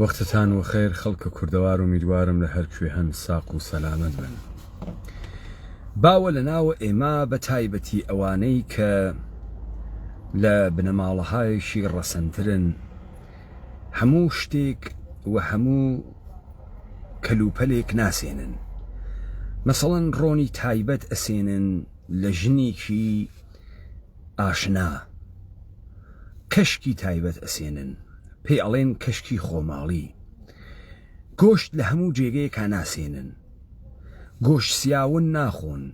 وەختتان وەخێر خەڵکە کوردەوار ئومیدوارم لە هەر کوێ هەن ساق و سەلامەت بن باوە لە ناوە ئێمە بە تایبەتی ئەوانەی کە لە بنەماڵەهایەکی ڕەسەنترن هەموو شتێک و هەموو کەلوپەلێک ناسێنن مەسەڵەن ڕۆنی تایبەت ئەسێنن لە ژنێکی ئاشنا کەشکی تایبەت ئەسێنن پێی ئەڵێن کەشکی خۆماڵی گۆشت لە هەموو جێگەیەکا ناسێنن گۆشت سیاون ناخۆن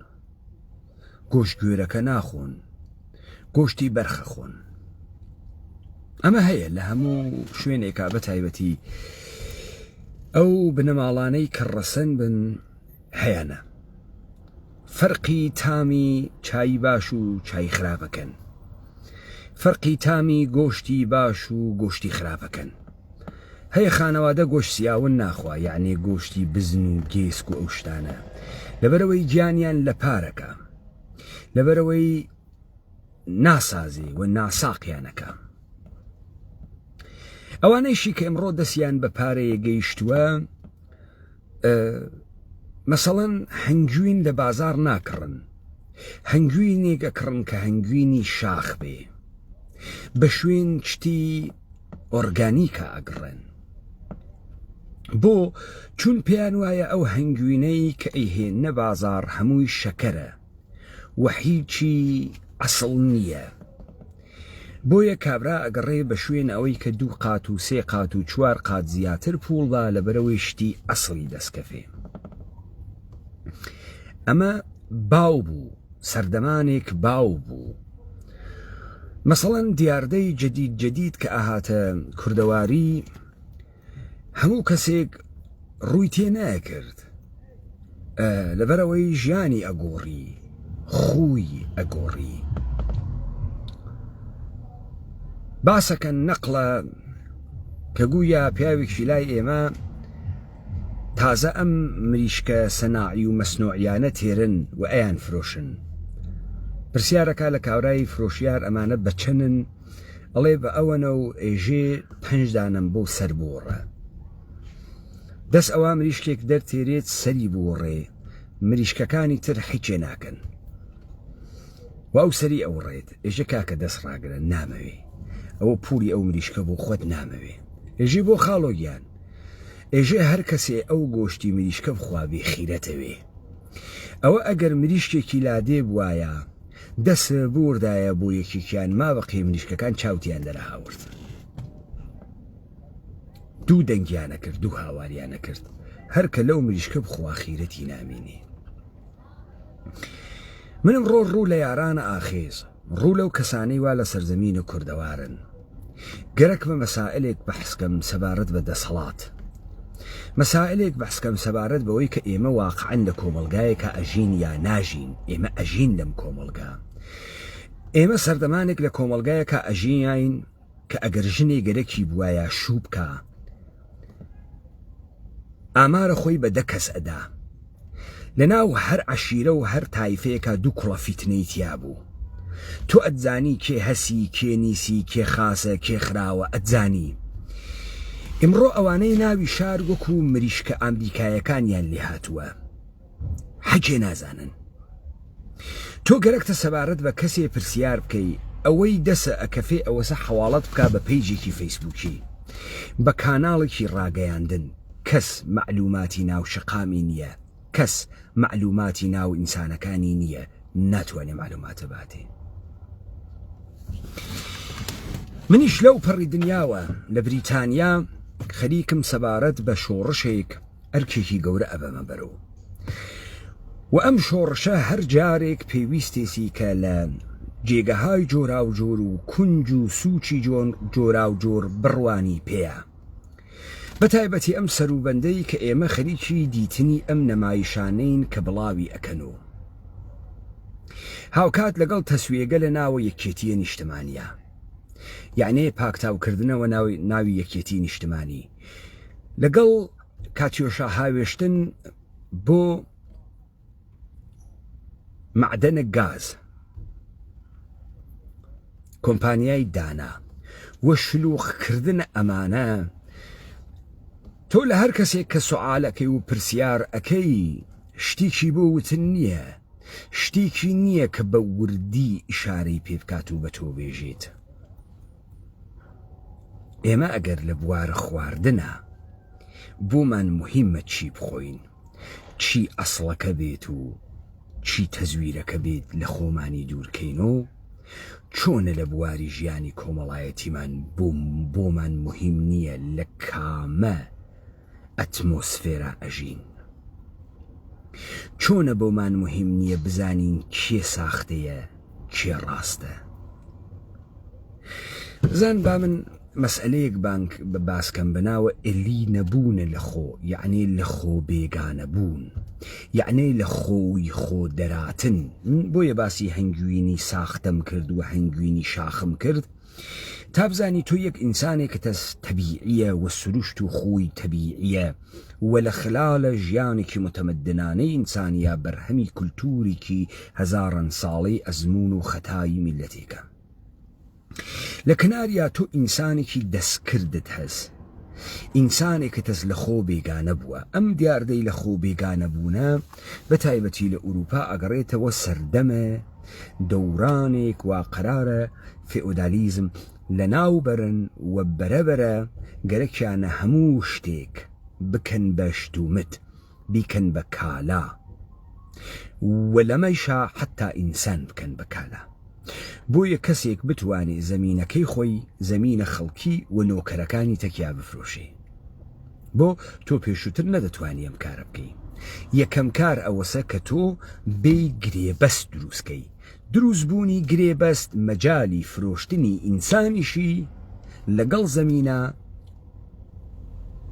گۆشت گوێرەکە ناخۆن گۆشتی بەرخەخۆن ئەمە هەیە لە هەموو شوێنێکا بە تایبەتی ئەو بنەماڵانەی کە ڕەسەن بن هەیەە فەرقی تامی چای باش و چای خراپەکەن فەرقی تامی گۆشتی باش و گۆشتی خراپەکەن هەیە خانەوادە گۆش سیاون ناخوا یعنی گۆشتی بزن و گێسک و ئەو شتانە لەبەرەوەی گیانیان لە پارەکە لەبەرەوەی ناسازی و ناساقیانەکە ئەوانەیشی کە ئمڕۆ دەستیان بە پارەیە گەیشتووە مەسەڵەن هەنگوین لە بازار ناکڕن هەنگوینێک ئەکڕن کە هەنگوینی شاخ بێ بە شوێن شتی ئۆرگانیکە ئەگڕێن بۆ چون پێیان وایە ئەو هەنگوینەی کە ئەیهێن نە بازار هەمووی شەکەرە و هیچی ئەسڵ نییە بۆیە کابرا ئەگەڕێ بە شوێن ئەوەی کە دوو قات و سێ قات و چوار قات زیاتر پووڵدا لە بەرەوەی شتی ئەسڵی دەستکەفێ ئەمە باو بوو سەردەمانێک باو بوو مەسەڵەن دیاردەی جدید جدید کە ئاهاتە کوردەواری هەموو کەسێک ڕووی تێ ناکرد لەبەرەوەی ژیانی ئەگۆڕی خوی ئەگۆڕی باسەکە نەقلە کە گوویا پیاوێکی لای ئێمە تازە ئەم مریشکە سەناعی و مەسنۆعیانە تێرن و ئەیان فرۆشن پرسیارەکە لە کاورای فرۆشیار ئەمانە بەچەنن ئەڵێ بە ئەوەنە و ئێژێ پەنج دانەم بۆ سەر بووڕە دەست ئەوە مریشکێک دەرتێرێت سەری بووڕێ مریشکەکانی تر حیچێ ناکەن واو سەری ئەو ڕێت ئێژە کاکە دەست ڕاگرە نامەوێ ئەوە پوری ئەو مریشکە بۆ خۆت نامەوێ ئێژی بۆ خاڵۆگیان ئێژێ هەر کەسێ ئەو گۆشتی مریشکە بخوابێ خیرەتەوێ ئەوە ئەگەر مریشکێکی لادێ بوایە دەست بوردایە بۆ یەکێکیان مابقی مریشکەکان چاوتیان دەرهاورد دوو دەنگیانە کرد دوو هاواریانە کرد هەر کە لەو مریشکە بخواخیرەتی نامینی منم ڕۆ ڕوو لە یارانە ئاخیز ڕوو لەو کەسانەی وا لە سەرزەمینە کوردەوارن گەرەکمە مەسائلێک بەحسکەم سەبارەت بە دەسەڵات. مەسائلێک بەحسکەم سەبارەت بەوەی کە ئێمە واقعەن لە کۆمەڵگایەکا ئەژین یا ناژین، ئێمە ئەژین لەم کۆمەڵگا. ئێمە سەردەمانێک لە کۆمەڵگایەکا ئەژیاین کە ئەگەر ژنێ گەرەکی بوایە شوو بکا، ئامارە خۆی بە دە کەس ئەدا لە ناو هەر عەشیرە و هەر تایفەیەکا دوو کوڕە فیتنەی تیا بوو تۆ ئەتزانی کێ هەسی کێ نیسی کێ خاسە کێ خراوە ئەتزانی ئیمڕۆ ئەوانەی ناوی شار وەکو مریشکە ئامریکایەکانیان لێ هاتووە حەکێ نازانن تۆ گەرەکتە سەبارەت بە کەسێ پرسیار بکەی ئەوەی دەسە ئەکەفێ ئەوەسە حواڵەت بک بە پیجێکی فەیسبووکی بە کاناڵێکی ڕاگەیاندن کەس معلوماتی ناو شقامی نییە کەس معلوماتی ناو ئینسانەکانی نییە ناتوانێ معلوماتە باتێ منیش لەو پەڕی دنیاوە لە بریتانیا خەریکم سەبارەت بە شۆڕشێک ئەرکێکی گەورە ئەبەمە بەرەو و ئەم شۆڕشە هەر جارێک پێویستێسی کە لە جێگەهای جۆراوجۆر و کونج و سوچی جۆن جۆراوجۆر بڕوانی پێە بە تایبەتی ئەم سەروبەندەی کە ئێمە خەریکی دیتنی ئەم نەمایشانەین کە بڵاوی ئەکەن و هاوکات لەگەڵ تەسوێگە لە ناوە یەکێتیە نیشتمانیە یعنی پاکتاوکردنەوە ناوی یەکێتی نیشتمانی لەگەڵ کاتیۆشا هاوێشتن بۆ معدەنە گاز کۆمپانیای دانا و شلوخکردن ئەمانە تۆ لە هەر کەسێک کە سوعاالەکەی و پرسیار ئەەکەی شتیکی بۆ وتن نییە شتیکی نییە کە بە وردی ئیشارەی پێ بکات و بە تۆ بێژێت ئێمە ئەگەر لە بوارە خواردنا بۆمان موهیمە چی بخۆین چی ئەسڵەکە بێت و چی تەزویرەکە بێت لە خۆمانی دوورکەینۆ چۆنە لە بواری ژیانی کۆمەڵایەتیمان بۆمان موهیم نییە لە کامە ئەتمۆسفێرا ئەژین چۆنە بۆمان مهم نیە بزانین کێ ساختەیە کێ ڕاستە زان با من مەسئلەیەک بانک بە باسکەم بەناوە ئلی نەبوونە لە خۆ یعنی لە خۆ بێگانە بوون یعنی لە خۆی خۆ دەراتن بۆیە باسی هەنگوینی ساختەم کرد و هەنگوینی شاخم کرد تا بزانی تۆ یەک ئینسانێکتەس تەبیعیە وە سروشت و خوی تەبیعیە وە لە خلالە ژیانێکی متەمدنانەی ئینسانیا بەرهەمی کلتوریکی هەزاران ساڵەی ئەزمون و خەتای میلەتێکە لە کناریا تۆ ئینسانێکی دەستکردت هەس ئینسانێکتەس لە خۆ بێگانە بووە ئەم دیاردەی لە خۆ بێگانە بوونە بە تایبەتی لە ئوروپا ئەگەڕێتەوە سەردەمە دەورانێک وا قەرارە فێئۆدالیزم لەناو بەرن و بەرە بەرە گەرەکیانە هەموو شتێک بکەن بە شت و مت، بیکەن بە کالا و لەمەیشا حەتتا ئینسان بکەن بە کالا. بۆیە کەسێک بتوانێ زەمینەکەی خۆی، زەمینە خەڵکی و نۆکەرەکانی تەکیا بفرۆشێ. بۆ تۆ پێشوتر نەدەتوانی ئەم کارە بکەی یەکەم کار ئەوەسە کە تۆ بێی گرێبەست دروستکەی دروست بوونی گرێبەست مەجای فرۆشتنی ئینسانیشی لەگەڵ زەمینە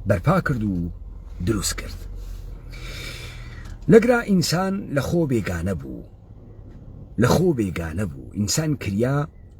بەرپا کرد و دروست کرد لەگرا ئینسان لە خۆ بێگانە بوو لە خۆ بێگانە بوو ئینسان کریا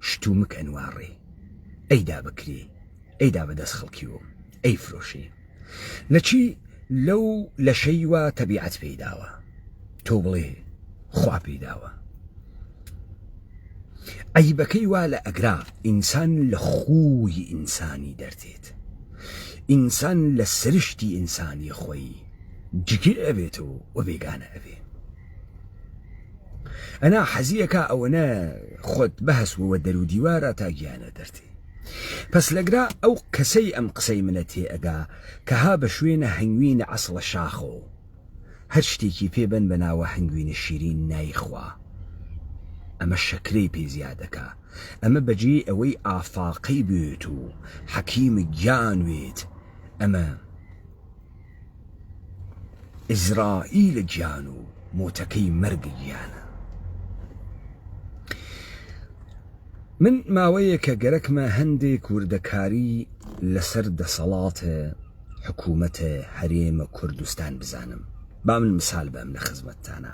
شتومک ئەنواڕێی ئەی دا بکرێی ئەی دا بەدەس خەڵکی و ئەی فرۆشێی لە چی لەو لەشەی وا تەبیعەت پێی داوە تۆ بڵێ خوا پێی داوە عیبەکەی وا لە ئەگرا ئینسان لە خووی ئینسانی دەردێت ئینسان لە سرشتی ئینسانی خۆی جگیر ئەبێت و و بێگانە ئەبێ ئەنا حەزیەکە ئەوەنە خۆت بەهسوەوە دەرو دیوارە تا گیانە دەرتی پس لەگرا ئەو کەسەی ئەم قسەی منە تێ ئەگا کە ها بە شوێنە هەنگوینە ئەسڵە شاخۆ هەر شتێکی پێ بەن بە ناوە هەنگوینە شیرین نایخوا ئەمە شەکرەی پێ زیادەکە ئەمە بەجێی ئەوەی ئافاقەی بێت و حەکیم گیان وێت ئەمە ئیزرائیلە گیان و موتەکەی مەرگ گیانە من ماوەیەکە گەرەکمە هەندێک وردەکاری لەسەر دەسەڵاتە حکوومەتە هەرێمە کوردستان بزانم با من مسال بەم لە خزمەتتانە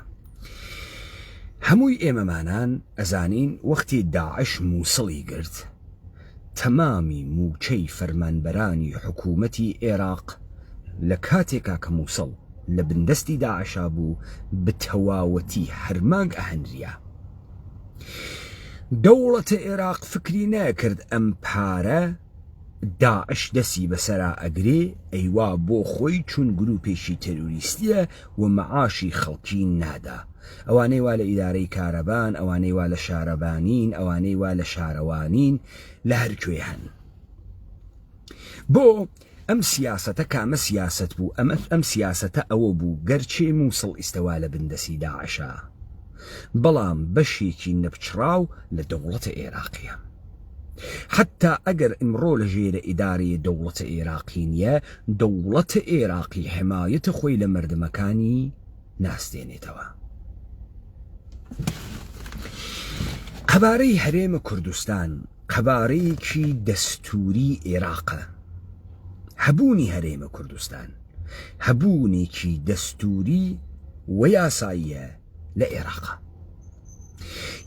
هەمووی ئێمەمانان ئەزانین وەختی داعش مووسڵی گرت تەمامی مووچەی فەرمانبەرانی حکوومەتی ئێراق لە کاتێکا کە مووسڵ لە بندەستی داعشا بوو بە تەواوەتی هەر مانگ ئەهەنریا. دەوڵەتە ئێراق فکری نەئەکرد ئەم پارە داعش دەسی بەسەرا ئەگرێ ئەیوا بۆ خۆی چون گرووپێکی تێروریستیە و مەعاشی خەڵکی نادا. ئەوانەی وا لە ئیدارەی کارەبان، ئەوانەی وا لە شارەبانین، ئەوانەی وا لە شارەوانین، لە هەر کوێ هەن. بۆ ئەم سیاسەتە کامە سیاسەت بوو؟ ئەمە ئەم سیاسەتە ئەوە بوو، گەرچی مووسڵ ئیستە وا لە بن دەستی داعشە، بەڵام بەشێکی نەپچڕاو لە دەوڵەتە ئێراقیە. حەتتا ئەگەر ئمڕۆ لە ژێرە ئیدارەێ دەوڵەتە ئێراقی نیە، دەوڵەتە ئێراقی حمایەتە خۆی لە مەردمەکانی، ناسدێنێتەوە. قەبارەی هەرێمە کوردستان قەبارەیەکی دەستوری عێراقە هەبوونی هەرێمە کوردستان هەبوونێکی دەستوری و یاساییە لە عێراقا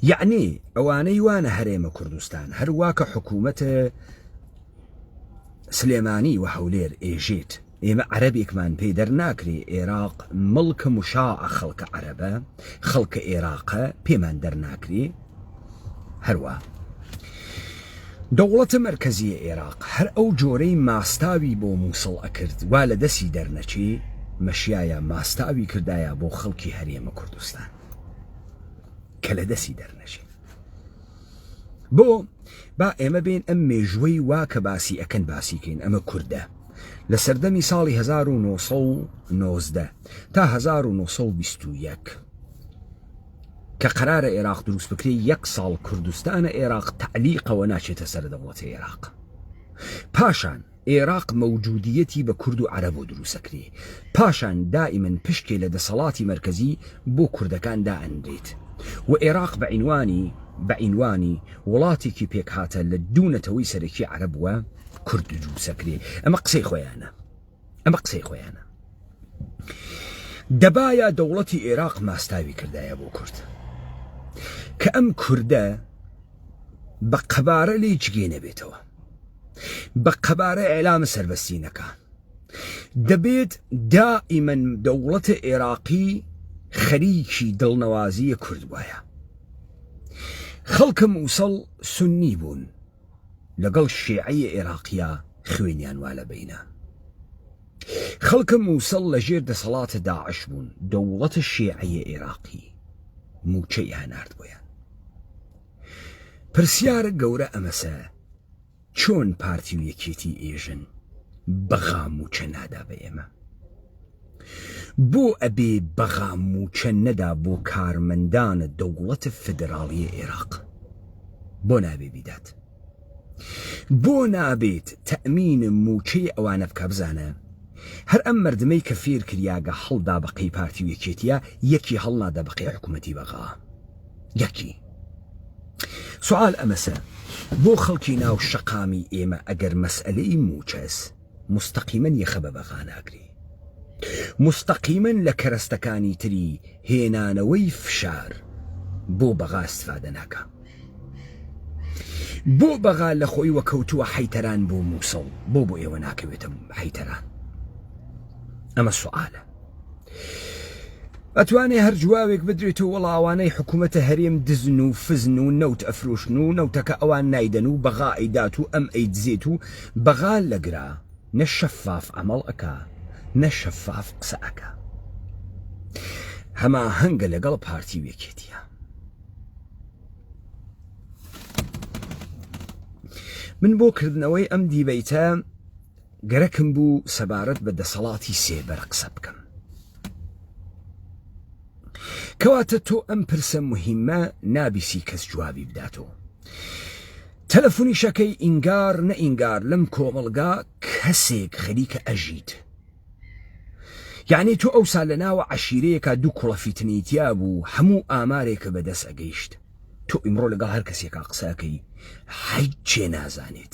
یعنی ئەوانەی وانە هەرێمە کوردستان هەروواکە حکوومەتە سلێمانی و هەولێر ئێژێت ئێمە عەرەبێکمان پێ دەرناکرێ ئێراق مڵکە مشاعە خەڵکە عەرەبە خەڵکە ئێراقە پێمان دەرناکرێ هەروا دەوڵەتە مەرکەزیە ئێراق هەر ئەو جۆرەی ماستاوی بۆ مووسڵ ئەکرد وا لە دەسی دەرنەچی مەشیایە ماستاوی کردایە بۆ خەڵکی هەرێمە کوردستان کە لە دەسی دەرنەچێت بۆ با ئێمە بین ئەم مێژوەی وا کە باسی ئەکەن باسیکەین ئەمە کوردە لە سەردەمی ساڵی 1990 تا 1920 کە قرارە عێراق دروست بکرێ یەک ساڵ کوردستانە عێراق تعلیقەوە ناچێتە سەر دەوڵەتی عێراق پاشان ئێراق مەوجودیەتی بە کورد و عەرەبۆ دروسەکرێ پاشان دائیمەن پشکێ لە دەسەڵاتی مەرکەزی بۆ کوردەکان دائەنرێت و ئێراق بە عینوانی بە عینوانی وڵاتێکی پێکهاتە لە دوو نەتەوەی سەرەکی عەرەب و کورد دروسەکرێ ئەمە قسەی خۆیانە ئەمە قسەی خۆیانە دەبایە دەوڵەتی ئێراق ماستاوی کردایە بۆ کورد کە ئەم کوردە بە قەبارە لێ جگێ نەبێتەوە بە قەبارە ئێلامە سەربەستینەکان دەبێت دائیمەن دەوڵەتە عێراقی خەریکی دڵنەوازیە کورد وایە خەڵکە مووسڵ سنی بوون لەگەڵ شێعەیە عێراقیە خوێنیان وا لە بینە خەڵکە مووسڵ لە ژێر دەسەڵاتە داعش بوون دەوڵەتە شێعەیە عێراقی موچەی هەنارد بۆیان پرسیارە گەورە ئەمەسە چۆن پارتی و یەکێتی ئێژن بەغا موچە نادا بە ئێمە بۆ ئەبێ بەغا موچە نەدا بۆ کارمەندانە دەوڵەتە فدراڵیە عێراق بۆ نابێ بیدات بۆ نابیت تەئمین موچەی ئەوانە بکا بزانە هەر ئەم مردمەی کە فیر کریا گە هەڵ دا بە قەی پارتی و یەکێتیە یەکی هەڵ نادا بە قەی حکومەتی بە غا یەکی سوال ئەمەسە بۆ خەڵکی ناو شەقامی ئێمە ئەگەر مەسئەلەی موچەس مستەقیمەن یەخە بە بەغا ناگرێ مستەقیمەن لە کەرەستەکانی تری هێنانەوەی فشار بۆ بەغا استفادە ناکا بۆ بەغا لە خۆی وە کەوتووە حەیتەران بۆ مووسڵ بۆ بۆ ئێوە ناکەوێتە حەیتەران ئەمە سوعاالە ئەتوانێ هەر جوابێک بدرێت و وەڵا ئەوانەی حکوومەتە هەرێم دزن و فزن و نەوت ئەفرۆشن و نەوتەکە ئەوان نایدەن و بەغا ئەیدات و ئەم ئەی دزێت و بەغا لەگرا نە شەفاف ئەمەڵ ئەکا نە شەفاف قسە ئەکا هەما هەنگە لەگەڵ پارتی وێکێتە من بۆ کردنەوەی ئەم دیبەیتە گەرەکم بوو سەبارەت بە دەسەڵاتی سێبەر قسە بکەم. کەواتە تۆ ئەم پرسە مهمە نابیسی کەس جوابی بداتەوە. تەلەفونیشەکەی ئینگار نە ئینگار لەم کۆمەڵگا کەسێک خەریکە ئەژیت. یعنی تۆ ئەوسا لە ناوە عشیرەیەکا دوو کوڵە فیتنەیتیا بوو هەموو ئامارێکە بەدەست ئەگەیشت. تۆ ئیمڕۆ لەگەڵ هەر کەسێکا قسەکەی حەیچێ نازانێت.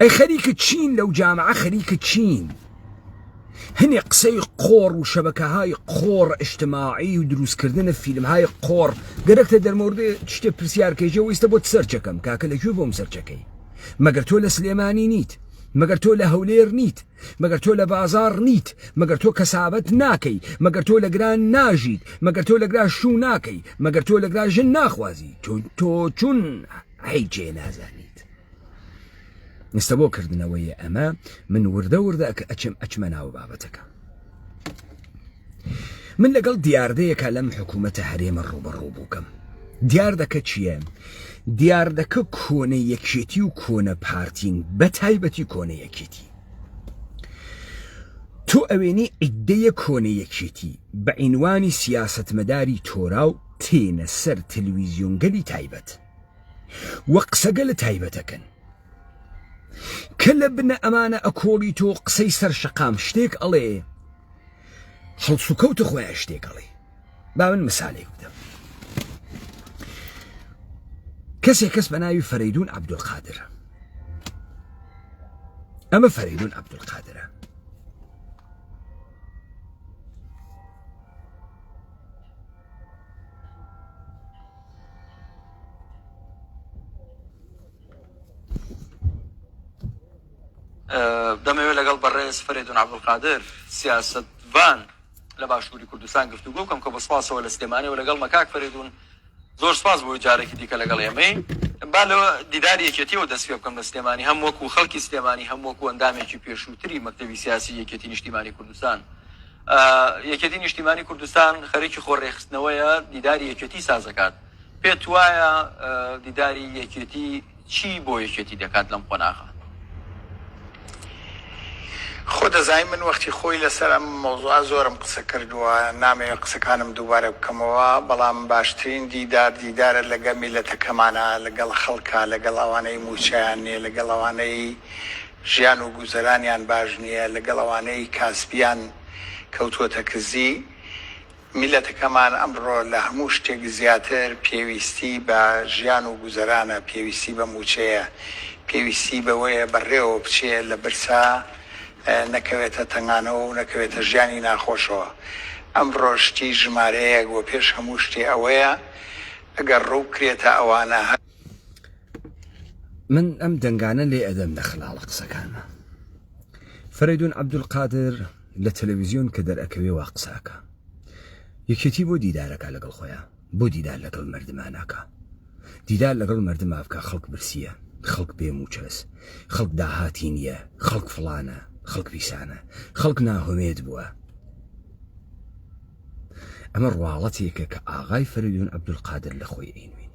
ئەی خەریکە چین لەو جامعە خەریکە چین هەنێ قسەی قۆڕ و شەبەکەهای قۆڕ ئشتماعی و دروستکردنە فیلمهای قۆڕ گەرەکتە دەرمۆردێ شتێ پرسیارکەژە ویستە بۆ سەرچەکەم کاکە لەکوێ بۆم سەرچەکەی مەگەر تۆ لە سلێمانی نیت مەگەر تۆ لە هەولێر نیت مەگەر تۆ لە بازاڕ نیت مەگەر تۆ کەسابەت ناکەی مەگەر تۆ لە گران ناژیت مەگەر تۆ لەگرا شوو ناکەی مەگەر تۆ لەگرا ژن ناخوازی چون تۆ چون حیچێ نازانی ئێستا بۆ کردنەوەی ئەمە من وردە وردە ئەچم ئەچمە ناوە بابەتەکە من لەگەڵ دیاردەیەکە لەم حکوومەتە هەرێمە ڕوبەڕوو بووکەم دیاردەکە چییە؟ دیاردەکە کۆنە یەکێتی و کۆنە پارتین بە تایبەتی کۆنە یەکێتی تۆ ئەوێنی ئیدەیە کۆنە یەکێتی بە عینوانی سیاستمەداری تۆرا و تێنە سەر تلویزیۆنگەلی تایبەت وە قسەگە لە تایبەتەکەن کە لە بنە ئەمانە ئەکۆڵی تۆ قسەی سەر شقام شتێک ئەڵێ هەڵس و کەوتە خۆیان شتێک ئەڵێ با من مسالێک بدەم کەسێک کەس بە ناوی فەرەیدون عبدولقادر ئەمە فەرەیدون عبدولقادرە دەمەوێت لەگەڵ بەڕێز فەرێدون عەبدولقادر سیاسەتڤان لە باشووری کوردستان گفتوگۆ بکەم کە بە سپاسەوە لە سلێمانەوە لەگەڵ مەکاک فەرێدون زۆر سپاس بۆی جارێکی دیکە لەگەڵ ئێمەی با لەوە دیداری یەکێتیەوە دەست پێ بکەم لە سلێمانی هەم وەکو خەڵکی سلێمانی هەم وەکو ئەندامێکی پێشووتری مەکتەوی سیاسی یەکێتی نیشتیمانی کوردستان یەکێتی نیشتیمانی کوردستان خەرێکی خۆڕێخستنەوەیە دیداری یەکێتی سازەکات پێت وایە دیداری یەکێتی چی بۆ یەکێتی دەکات لەم قۆناغە؟ خۆ دەزانی من وەختی خۆی لەسەر ئەم مەوزوعە زۆرم قسە کردووە، نامەوێ قسەکانم دووبارە بکەمەوە، بەڵام باشترین دیدار دیدارە لەگەڵ میللەتەکەمانە، لەگەڵ خەڵکە، لەگەڵ ئەوانەی مووچەیان نییە، لەگەڵ ئەوانەی ژیان و گوزەرانیان باش نییە، لەگەڵ ئەوانەی کاسبیان کەوتووەتە کزی. میللەتەکەمان ئەمڕۆ لە هەموو شتێک زیاتر پێویستی بە ژیان و گوزەرانە، پێویستی بە مووچەیە، پێویستی بەوەیە بەڕێوە بچێ لە برسا نەکەوێتە تەنگانەوە و نەکەوێتە ژیانی ناخۆشەوە. ئەمڕۆ شتی ژمارەیەک و پێش هەموو شتێ ئەوەیە ئەگەر ڕوو بکرێتە ئەوانە، هەر. من ئەم دەنگانە لێ ئەدەم لە خلاڵە قسەکانە فەرەیدون عەبدولقادر. لە تەلەویزیۆن کە دەرئەکەوێ وا قسە ئەکا یەکێتی بۆ دیدار ئەکا لەگەڵ خۆیان بۆ دیدار لەگەڵ مەردما ناکا دیدار لەگەڵ مەردما بکا خەڵک برسیە خەڵک بێ موچەس خەڵک داهاتی نیە خەڵک فڵانە خەڵک پیسانە خەڵک ناهۆمێد بوە ئەمە ڕواڵەتێکە کە ئاغای فەرەدون عەبدولقادر لە خۆی ئەینوێنی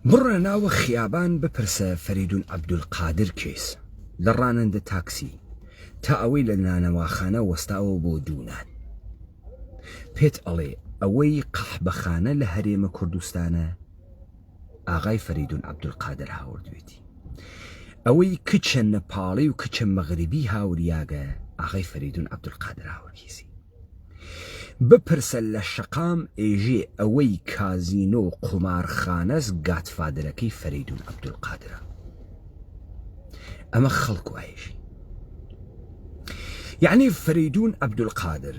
بڕە ناوە خیابان بپرسە فەریدون عەبدولقادر کێس لە ڕانندە تاکسی تا ئەوەی لە نانەواخانە وەستاوە بۆ دوونان پێت ئەڵێ ئەوەی قەحبەخانە لە هەرێمە کوردستانە ئاغای فەریدون عەبدولقادر هاوردوێتی. ئەوەی کچە نەپاڵی و کچە مەغریبی هاوریاگە ئاغای فەریدون عەبدولقادر هاوریسی. بپرسە لە شەقام ئێژێ ئەوەی کازینۆ و قومارخانەس گادفادرەکەی فەریدون عەبدولقادرە. ئەمە خەڵک وایژی. یەعنی فەریدون عەبدولقادر،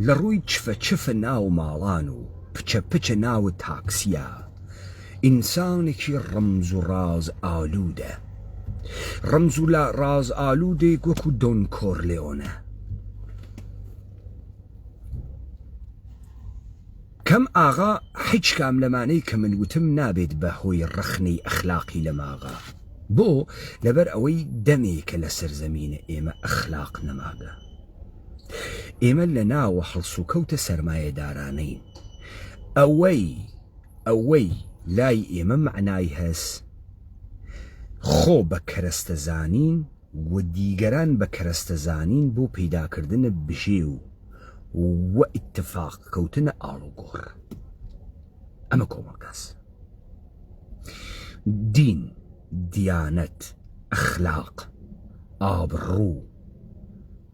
لە ڕووی چفە چفە ناو ماڵان و پچە پچە ناو تاکسیا ئینسانێکی ڕەمز و ڕاز ئالوودە ڕەمز و لە ڕاز ئالوودێک وەکو دۆن کۆرلێۆنە کەم ئاغا حیچ کام لەمانەی کە من وتم نابێت بە هۆی ڕەخنەی ئەخلاقی لەماغا بۆ لەبەر ئەوەی دەمێکە لە سەرزەمینە ئێمە ئەخلاق نەماگە. ئێمە لە ناوە هەڵسوکەوتە سەرمایەدارانەین ئەوەی ئەوەی لای ئێمە مەعنای هەس خۆ بە کەرەستە زانین و دیگەران بە کەرەستە زانین بۆ پەیداکردنە بژێ و و ئیتفاق کەوتنە ئاڵوگۆڕ ئەمە کۆمەڵگاس دین دیانەت ئەخلاق ئابڕوو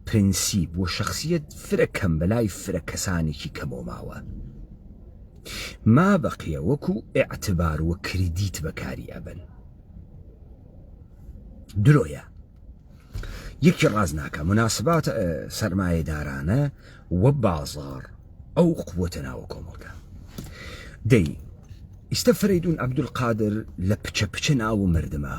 پرنسیپ و شەخسیەت فرە کەم بەلای فرە کەسانێکی کەمەوە ماوە مابەقیە وەکو ئیعتبار و کریدیت بەکاری ئەبەن درۆیە یەکی ڕاز ناکە مناسبات سەرمایەدارانە و بازار ئەو قوتە ناوە کۆمەڵگە دەی ئیستا فرەیدون عبدالقادر لە پچە پچە ناو مردمە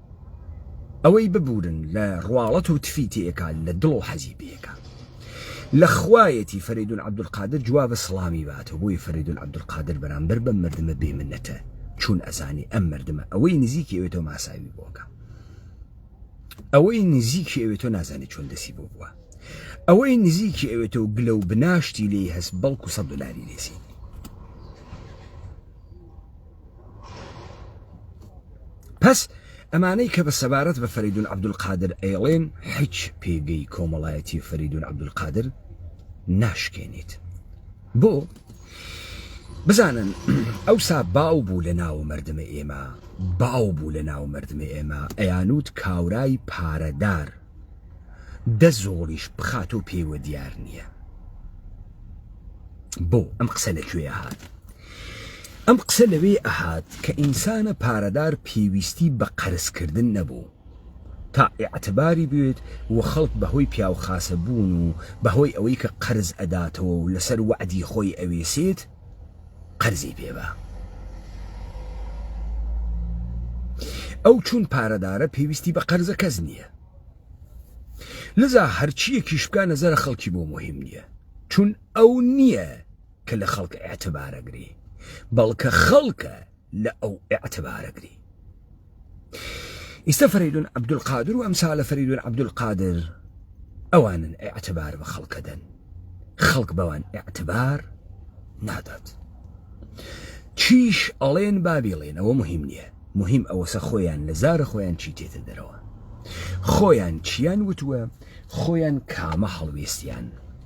ئەوەی ببورن لە ڕواڵەت و تفی تێکا لە دڵ و حەزی پێکا لە خوایەتی فەریدون عەبدولقادر جوابە سڵامی باتەوە بۆی فەریدون عەبدولقادر بەرامبەر بەم مردمە بێ منەتە چون ئەزانی ئەم مردمە ئەوەی نزیکی ئەوێ تۆ ماساوی بۆکە ئەوەی نزیکی ئەوێ تۆ نازانی چۆن دەسی بۆ بووە ئەوەی نزیکی ئەوێ تۆ گلە و بناشتی لێی هەست بەڵکو سە دلاری لێسینی پس ئەمانەی کە بە سەبارەت بە فەریدون عبدالقادر ئەیڵێن حچ پێگەی کۆمەڵایەتی فەریدون عبدالقادر ناشکێنیت بۆ بزانن ئەو سا باو بوو لە ناو مردمە ئێمە باو بوو لە ناو مردمە ئێمە ئەیانوت کاورای پارەدار دە زۆڵیش بخات و پێوە دیار نییە بۆ ئەم قسە لە کوێ هاات ئەم قسە لەوێ ئەهات کە ئینسانە پارەدار پێویستی بە قەرز کردن نەبوو تا ئیعتباری بوێت و خەڵک بە هۆی پیاو خاسە بوون و بە هۆی ئەوەی کە قەرز ئەداتەوە و لەسەر وەعدی خۆی ئەوێسێت قەرزی پێ با. ئەو چوون پارەدارە پێویستی بە قەرزە کەس نییە. لذا هەرچیەکیش بکە نەزەرە خەڵکی بۆ مهم نییە چون ئەو نییە کە لە خەڵک ئێعتبارەگری بەڵکە خەڵکە لە ئەو ئێعتبارەگری ئیستا فەریدون عبدالقادر و ئەمسالە فەریدون عبدالقادر ئەوانن ئێعتبار بە خەڵکەدەن خەڵک بەوان ئێعتبار نادات چیش ئەڵێن بابیڵێن ئەوە مهم نییە مهم ئەوەسە خۆیان لە زارە خۆیان چی تێتە دەرەوە خۆیان چیان وتووە خۆیان کامە هەڵوێستیان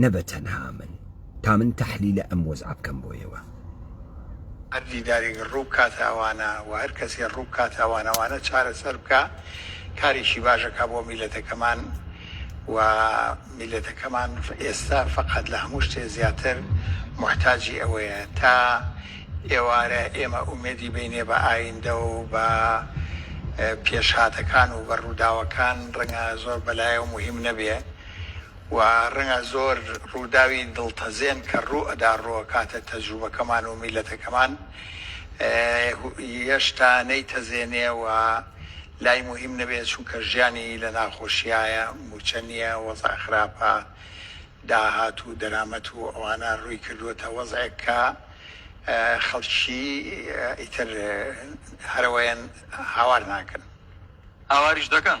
نە بە تەنها من تا من تەحلیلە ئەم وەزعە بکەم بۆ ئێوە. هەر دیدارێک ڕوو بکاتە ئەوانە و هەر کەسێ ڕوو بکاتە ئەوانە وانە چارەسەر بکا کارێکی باش ئەکا بۆ میلەتەکەمان و میلەتەکەمان ئێستا فەقەت لە هەموو شتێ زیاتر موحتاجی ئەوەیە تا ئێوارە ئێمە ئومێدی بینێ بە ئایندە و بە پێشهاتەکان و بە ڕووداوەکان ڕەنگە زۆر بەلایەوە موهیم نەبێ و ڕەنگە زۆر ڕووداوی دڵتەزێن کە ڕوو ئەدا ڕووئەکاتە تەجروبەکەمان و میلەتەکەمان یەشتا نەیتەزێنێ و لای موهیم نەبێ چونکە ژیانی لە ناخۆشیایە موچە نیە وەزع خراپە داهات و دەرامەت و ئەوانە ڕووی کردوەتە وەزعێک کە خەڵکی ئیتر هەرەوەیەن هاوار ناکەن هاواریش دەکەن.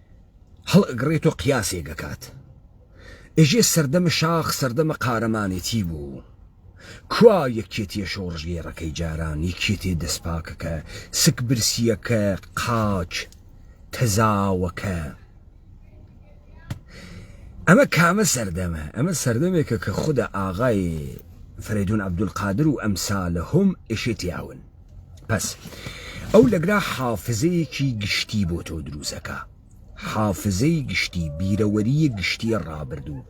هەڵئەگڕێت و قیاسێک ئەکات. ئێژێ سەردەمە شاخ سەردەمە قارەمانێتی بوو. کوا یەکێتیە شۆڕشگێڕەکەی جاران، یەکێتێ دەسپاکەکە، سک برسیەکە، قاچ تەزاوەکە؟ ئەمە کامە سەردەمە؟ ئەمە سەردەمێکە کە خودە ئاغای فەرەیدون عەبدولقادر و ئەمسالە هوم ئێشێ تیاون. پس ئەو لەگرا حافزەیەکی گشتی بۆ تۆ دروزەکە حافزەی گشتی بیرەوەریە گشتی ڕابردوو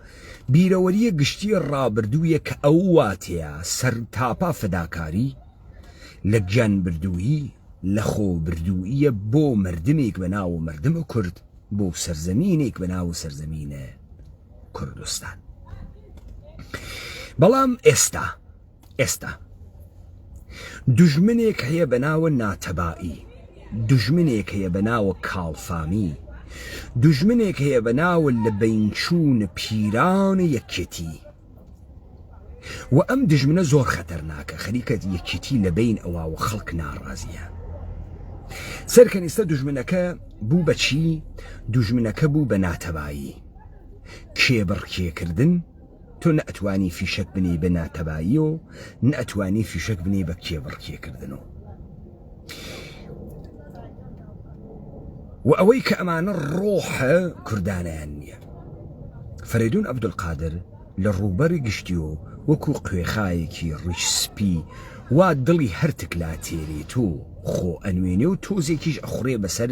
بیرەوەریە گشتی ڕابردوویە کە ئەو واتەیە سەر تاپا فداکاری لە گیان بردوویی لە خۆ بردوویە بۆ مردمێک بە ناو و مردم و کورد بۆ سەرزەمینێک بە ناو و سەرزەمینە کوردستان بەڵام ئێستا ئێستا دوژمنێک هەیە بە ناوە ناتەبایی دوژمنێک هەیە بە ناوە کاڵفامی دوژمنێک هەیە بە ناوە لە بینچوون پیران یەکێتی و ئەم دژمنە زۆر خەتەرناکە خەریکەت یەکێتی لە بین ئەوە و خەڵک ناڕازیە سەرکەنیستە دژمنەکە بوو بەچی دژمنەکە بوو بە ناتەبایی کێبڕکێکردن تۆ نەئەتوانی فیشەک بنێی بە ناتەبایی و نەئەتوانی فیشەک بنێی بە کێبڕکێکردن و و ئەوەی کە ئەمانە ڕۆحە کوردانیان نییە فەرێدون عبدولقادر لە ڕووبەری گشتی و وەکو قوێخایەکی ڕیش سپی وا دڵی هەرتک لا تێرێت و خۆ ئەنوێنێ و تۆزێکیش ئەخورێ بەسەر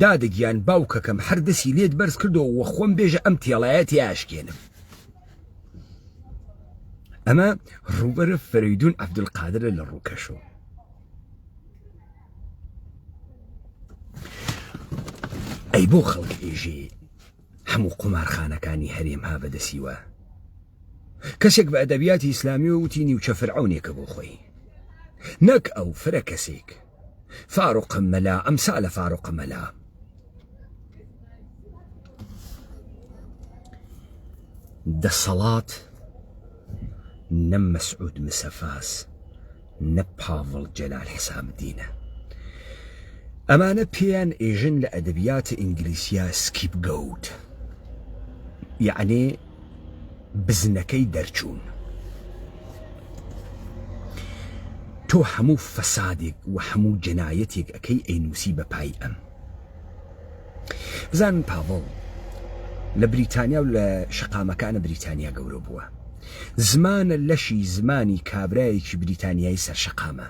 دادە گیان باوکەکەم هەر دەسی لێت بەرز کردەوە وە خۆم بێژە ئەم تێڵایە تیاشکێنم ئەمە ڕوبەرە فەریدون عبدالقادرە لە ڕووکەشەوە ئەی بۆ خەڵک ئێژێ هەموو قومارخانەکانی هەرێم ها بەدەسیوە کەسێک بە ئەدەبیاتی ئیسلامیەوە وتی نیوچە فرعونێکە بۆ خۆی نەک ئەو فرە کەسێک فاروقە مەلا ئەمسا لە فاروقە مەلا دەسەڵات نەم مەسعود مسەفاس نە پاڤڵ جەلال حسابدینە. ئەمانە پێیان ئێژن لە ئەدەبیاتە ئینگلیسیە سکیپ گەوت یەعنی بزنەکەی دەرچوون. تۆ هەموو فەسادێک و هەموو جەنایەتێک ئەکەی ئەینووسی بە پای ئەم. بزانن پاڤڵ لە بریتانیا و لە شەقامەکانە بریتانیا گەورە بووە زمانە لەشی زمانی کابرایەکی بریتانیایی سەر شەقامە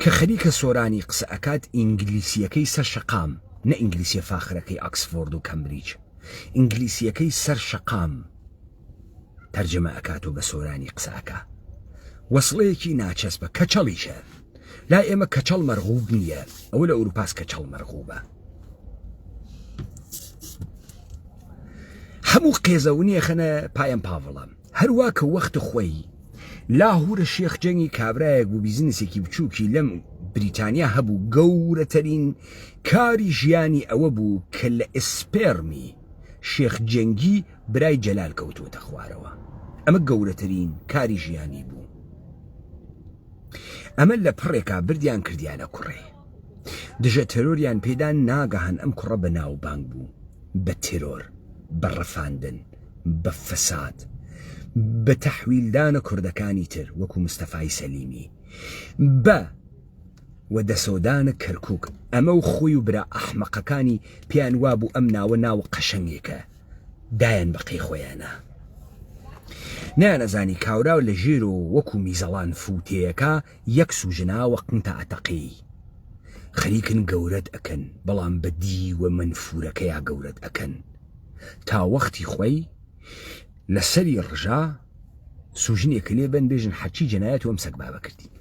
کە خەریکە سۆرانی قسە ئەکات ئینگلیسیەکەی سەر شەقام نە ئینگلیسیە فاخرەکەی ئاکسفۆرد و کەمبریج ئینگلیسیەکەی سەر شەقام تەرجەمە ئەکات و بە سۆرانی قسە ئەکا وەسڵەیەکی ناچەسپە کەچەڵیشە لای ئێمە کەچەڵ مەرغوب نییە ئەوە لە ئەوروپاس کەچەڵ مەرغوبە هەموو قێزەونیە خەنە پایم پاڤڵام هەروە کە وەخت خۆی لاهورە شێخ جەنگی کابراایەک بوو بیزنسێکی بچووکی لەم بریتانیا هەبوو گەورەترین کاری ژیانی ئەوە بوو کە لە ئسپێرمی شێخ جەنگی برای جەلال کەوتووەتە خوارەوە ئەمە گەورەترین کاری ژیانی بوو ئەمە لە پڕێکا بردیان کردیانە کوڕێ دژە تێرۆریان پێدا ناگەهان ئەم کوڕە بە ناوبانگ بوو بە تێرۆر بە ڕفاندن بە فەساد بە تەحویلدانە کوردەکانی تر وەکو مستەفای سەلیمی بە و دەسەودانە کەرکک ئەمە و خۆی و برا ئەحمەقەکانی پێیان وابوو ئەم ناوە ناوە قەشەنگێکە دایان بەقەی خۆیانا نیان ئەزانی کاوراو لە ژیر و وەکو میزەڵان فووتێیەکە یەک سووژنا وە قنتە ئەتەقێی خەریکن گەورەت ئەکەن بەڵام بە دیوە مەنفوورەکەیا گەورەت ئەکەن تا وەختی خۆی لە سەری ڕژا سووژنێکە لێ بەن بێژن حەچی جەنایەت وەم سەگبابە کردین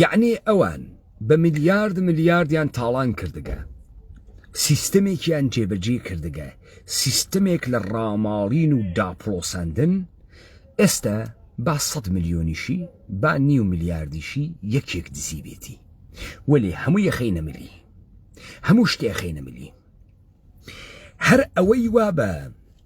یعنی ئەوان بە ملیارد ملیاردیان تاڵان کردگە سیستمێکیان جێبەجێ کردگە سیستمێک لە ڕاماڵین و داپڵۆسەندن ئێستا با سە ملیۆنیشی با نیو ملیاردیشی یەکێک دزی بێتی وەێ هەموو یەخی نەملی هەموو شتێخی نەملی هەر ئەوەی وا بە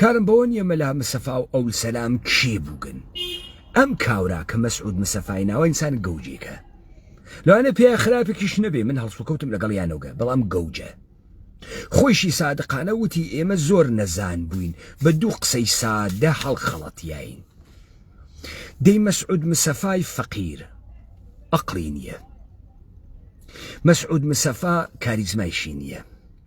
کارم بەوە نیە مەلا مسەفا و ئەول سەلام کێ بوگن ئەم کاورا کە مەسعود مسەفای ناوە ئینسان گەوجێکە لەوانە پێ خراپێکیش نەبێ من هەڵسوکەوتم لەگەڵ یانەوگە بەڵام گەوجە خۆشی سادقانە وتی ئێمە زۆر نەزان بووین بە دوو قسەی سادە هەڵخەڵەتیین دەی مەسعود مسەفای فەقیر ئەقلی نییە مەسعود مسەفا کاریزمایشی نییە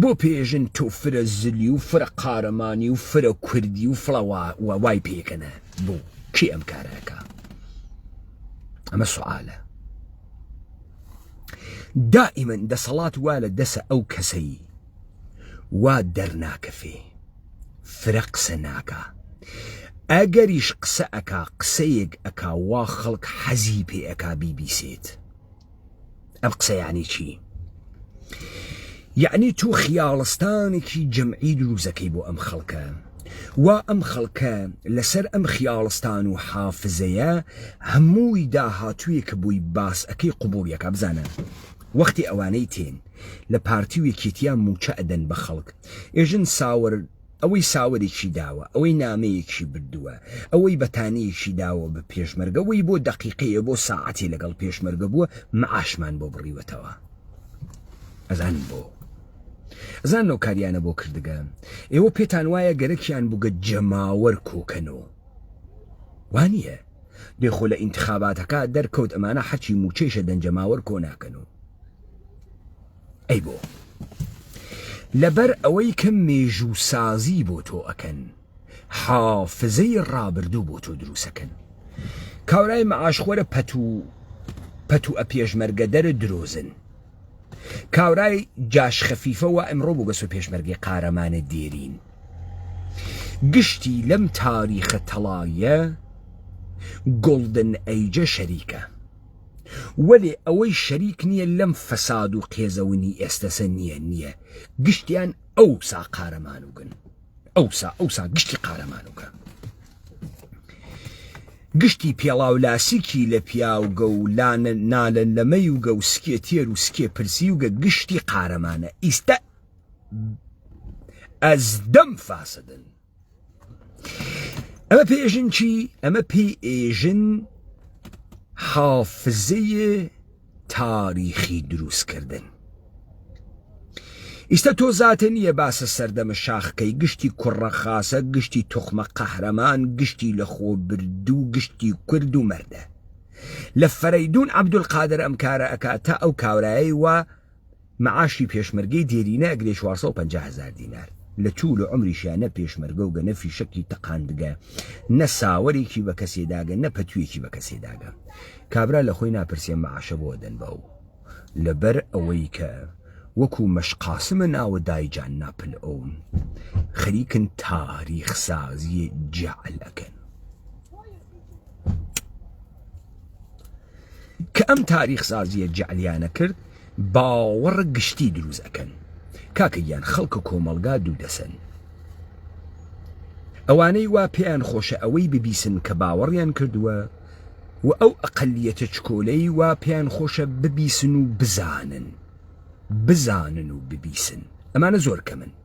بۆ پێژن تۆ فرە زلی و فرە قارەمانی و فرە کوردی و فڵە وای پێکەنە بوو کی ئەم کارەکە ئەمە سوعاالە دائیمەن دەسەڵات وا لە دەسە ئەو کەسەی وا دەرناکەفێ فرە قسە ناکە ئەگەریش قسە ئەک قسەیەک ئەک وا خەڵک حەزی پێ ئەک بیبیسێت ئەم قسە یعنی چی یعنی تو خیاڵستانێکی جەمعی دروزەکەی بۆ ئەم خەڵکە وا ئەم خەڵکە لەسەر ئەم خیاڵستان و حافزەیە هەمووی داهاتوویە کە بووی باس ئەەکەی قوبولیەکە بزانە وەختی ئەوانەی تێن لە پارتی و یەکێتیان موچە ئەدەن بە خەڵک ئێژن ساوەر ئەوەی ساوەرێکی داوە، ئەوەی نامەیەکی بردووە، ئەوەی بەتانییەکی داوە بە پێشمەرگە، ئەوەی بۆ دەقیقەیە، بۆ ساعەتێ لەگەڵ پێشمەرگە بووە، معاشمان بۆ بڕیوەتەوە. ئەزانن بۆ؟ ئەزانن ئەو کاریانە بۆ کردگە؟ ئێوە پێتان وایە گەرەکیان بووگە جەماوەر کۆ کەن و. وا نییە؟ دەی خۆ لە ئینتخاباتەکا دەرکەوت ئەمانە حەکی مووچەیشە دەن جەماوەر کۆ ناکەن و. ئەی بۆ؟ لەبەر ئەوەی کە مێژوو سازی بۆ تۆ ئەکەن حافزەی ڕابردوو بۆ تۆ دروسەکەن کاورای مەعاشخۆرە پەت و پەت و ئەپێشمەرگە دەرە درۆزن کاورای جاش خەفیفەوە ئەمڕۆ بۆ بەسۆ پێشمەرگی قارەمانە دێرین گشتی لەم تاریخە تەڵایە گۆڵدن ئەیجە شەریکە وەلێ ئەوەی شەریک نیە لەم فەساد و قێزەونی ئێستەسە نیە نیە گشتیان ئەوسا قارەمانوگن ئەوسا ئەوسا گشتی قارەمانوگە گشتی پێڵاو لاسیکی لە پیاوگە و لانە نالەن لەمەی وگە و سکێ تێر و سکێ پرسی وگە گشتی قارەمانە ئیستا ئەز دەم فاسدن ئەمە پێژن چی ئەمە پێ ئێژن حافزەیە تاریخی دروستکردن ئیستا تۆ زاتە نییە باسە سەردەمە شاخکەی گشتی کوڕە خاصە گشتی توخمە قەهرەمان گشتی لە خۆ بردو گشتی کورد و مەردە لە فەرەیدون عبدول قادر ئەم کارە ئەکات تا ئەو کاورایەی وە مەعاشی پێشمەرگەی دێرینە ئەگرێ چوار سەد و پەنجا هەزار دینار لە توول و عومریشیا نە پێشمەرگە و گە نە فیشەکی تەقاندگە نە ساوەرێکی بە کەسێ داگە نە پەتوویەکی بە کەسێ داگە کابرا لە خۆی ناپرسێ مەعاشە بۆ ئەدەن بە و لە بەر ئەوەی کە وەکوو مەش قاسمە ناوە دایجان ناپل ئەو خەریکن تاریخ سازیێ جەعل ئەکەن. کە ئەم تاریخ سازیە جەعلیانە کرد باوەڕ گشتی دروست ئەکەن کاکە گیان خەڵکە کۆمەڵگا دوو دەسەن ئەوانەی وا پێیان خۆشە ئەوەی ببیسن کە باوەڕیان کردووە و ئەو ئەقلیەتە چکۆلەی وا پێیان خۆشە ببیسن و بزانن بزانن و ببیسن ئەمانە زۆر کەمن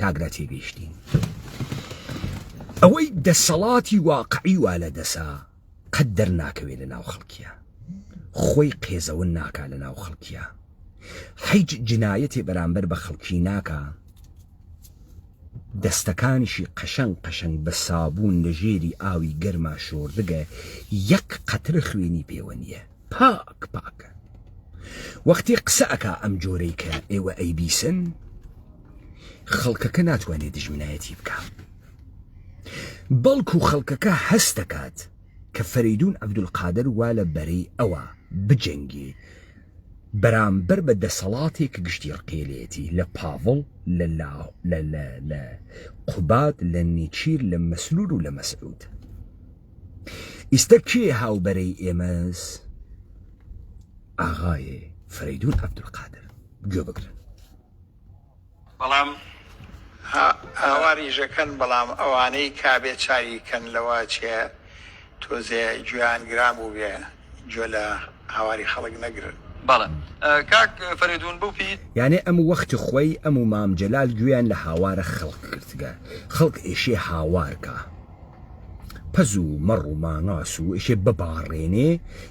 کاگرا تێگەیشتین ئەوەی دەسەڵاتی واقعی وا لە دەسا قەت دەرناکەوێت لە ناو خەڵکیە خۆی قێزەون ناکا لە ناو خەڵکیە حیج جنایەتی بەرامبەر بە خەڵکی ناکە دەستەکانیشی قەشەنگ قەشەنگ بە سابوون لە ژێری ئاوی گەرما شۆردگە یەک قەترە خوێنی پێوە نییە پاک پاکە وەختی قسە ئەکا ئەم جۆرەی کە ئێوە ئەی بیسن خەڵکەکە ناتوانێت دژمنایەتی بکە بەڵکو خەڵکەکە هەست دەکات کە فەریدون عبدولقادر وا لە بەرەی ئەوە بجەنگی بەرامبەر بە دەسەڵاتێک گشتی ڕقێلێتی لە پاڤڵ لە قوبات لە نیچیر لە مەسرور و لە مەسعود ئیستە کێ هاو بەرەی ئێمەس ئاغایێ فەرەیدون عەبدولقادر گوێ بگرن. بەڵام هاواریشەکەن بەڵام ئەوانەی کابێ چاوی کەن لەوە چێ تۆزێ گوێیان گران بووبێ. گوێ لە هاواری خەڵک نەگرن. بەڵێ کاک فەرێدوون بو پیت. یانێ ئەم وەخت خوەی ئەم و مام جەلال گوێیان لە هاوارە خەڵک گرتگە خەڵک ئێشێ هاوار کا پەز و مەڕ و ماناس و ئێشێ بباڕێنێ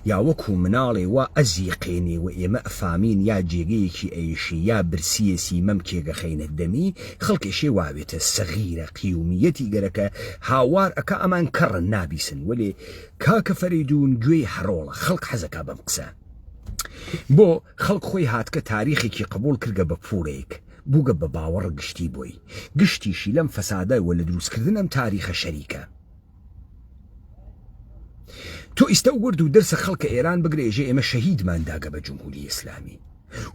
یا وەکوو مناڵێ وا ئەزیقێنێ وە ئێمە ئەفامین یا جێگەیەکی ئەیشێ یا برسیێسی مەمکێگ ئەخەینە دەمی خەڵک ئێشێ واوێتە سەغیرە قیومیەتی گەرەکە هاوار ئەکا ئەمان کەڕن نابیسن وەلێ کاکە فەرەیدون گوێی حەڕۆڵە خەڵک حەزەکا بەم قسە بۆ خەڵک خۆی هاتکە تاریخێکی قبول کردگە بە پوڵێک بووگە بە باوەڕ گشتی بۆی گشتیشی لەم فەسادای وە لە دروستکردن ئەم تاریخە شەریکە تۆ ئیستە وەرد و دەرسە خەڵکە ئێران بگرە ئێژێ ئێمە شەهیدمان داگە بە جمهوری ئیسلامی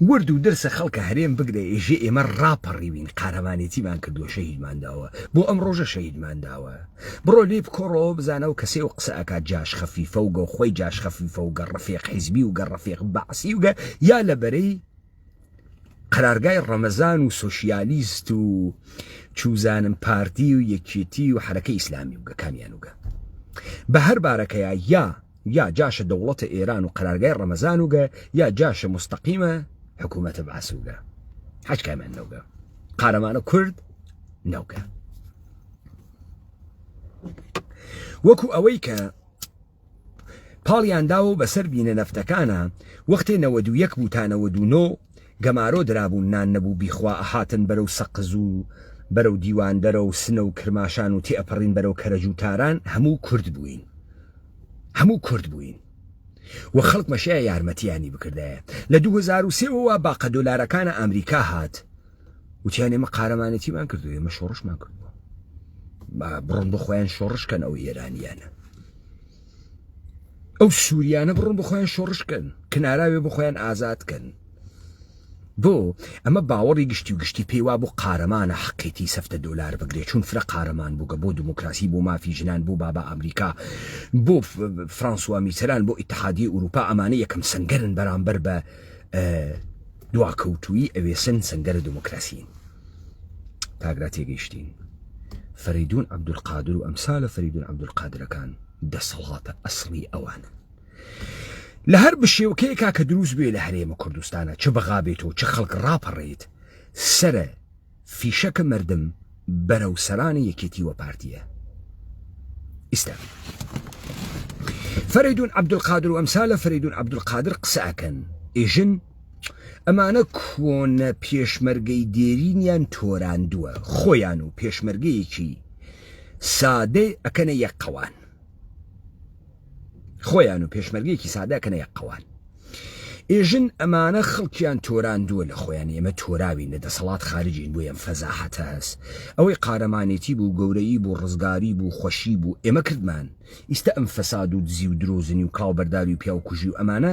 ورد و درسە خەڵکە هەرێم بگرە ئێژێ ئێمە ڕاپەڕیوین قارەمانێتیمان کردووە شەهیدمان داوە بۆ ئەم ڕۆژە شەهیدمان داوە بڕۆ لێ بکۆڕەوە بزانە و کەسێ و قسە ئەکات جاش خەفیفە و گەو خۆی جاش خەفیفە و گە ڕفێق حیزبی و گە ڕفێق بەعسی و گە یا لە بەرەی قەرارگای ڕەمەزان و سۆشیالیست و چوزانم پارتی و یەکێتی و حرەکە ئیسلامی وگە کامیان وگە بە هەر بارەکەیە یا یا جاشە دەوڵەتە ئێران و قەرارگای ڕەمەزان و گە یا جاشە مستەقیمە حکوومەتە باسوگە حەج کامیان نەوگە قارەمانە کورد نەوگە وەکو ئەوەی کە پاڵیانداوە بەسەر بینە نەفتەکانە وەختێ نەوە دوو یەک بوو تا نەوە دوو نۆ گەمارۆ درابوون نان نەبوو بیخوا ئەهاتن بەرەو سەقز و بەرەو دیواندەرە و سنە و کرماشان و تێئەپەڕین بەرەو کەرەج و تاران هەموو کورد بووین هەموو کورد بووین و خەڵکمە شایە یارمەتیانی بکردایە لە دوو هەزار و سێ وەوە باقە دۆلارەکانە ئامریکا هات وتیان ئێمە قارەمانەتیمان کردو ئێمە شۆڕشمان کردووە بڕۆن بۆ خۆیان شۆڕشکەن ئەو ئێرانیانە ئەو سووریانە بڕۆن بۆ خۆیان شۆڕش کەن کناراوێ بۆ خۆیان ئازاد کەن بۆ ئەمە باوەڕی گشتی و گشتی پێیوا بۆ قارەمانە حقێتی سەفتە دۆلار بگرێت چون فرە قارەمان بووگە بۆ دموکراسی بۆ مافی ژنان بۆ بابا ئەمریکا بۆ فرانسوا میتەران بۆ ئتحادی ئوروپا ئەمانە یەکەم سنگەرن بەرامبەر بە دواکەوتویی ئەوێسن سنگەرە دموکراسین. کاک لا تێگەیشتین فەریدون عبدالقادر و ئەمسالە فەریدون عبدالقادرەکان دەسەڵاتە ئەسڵی ئەوانن لە هەر بشێوکەیەکا کە دروست بێ لە هەرێمە کوردستانە چ بەغا بێتەوە چ خەڵک ڕاپەڕێت سرە فیشەکە مردم بەرە و سەرانی یەکێتی وە پارتیە ئیستا فەریدون عبدالقادر و ئەمسالە فەریدون عبدالقادر قسەکەن ئێژن ئەمانە کۆنە پێشمەرگەی دێرینیان تۆراندووە خۆیان و پێشمەرگەیەکی سادەی ئەکەنە یەک قەوان خۆیان و پێشمەرگەیەکی سادەکەنە یەک قەوان ئێژن ئەمانە خەڵکیان تۆراندووە لە خۆیان ئێمە تۆراوین لە دەسەڵات خارجین بۆ ئەم فەزاحەتە هەست ئەوەی قارەمانێتی بوو گەورەی بوو ڕزگاری بوو خۆشی بوو ئێمە کردمان ئیستا ئەم فەساد و دزی و درۆزنی و کاڵبەرداری و پیاوکوژی و ئەمانە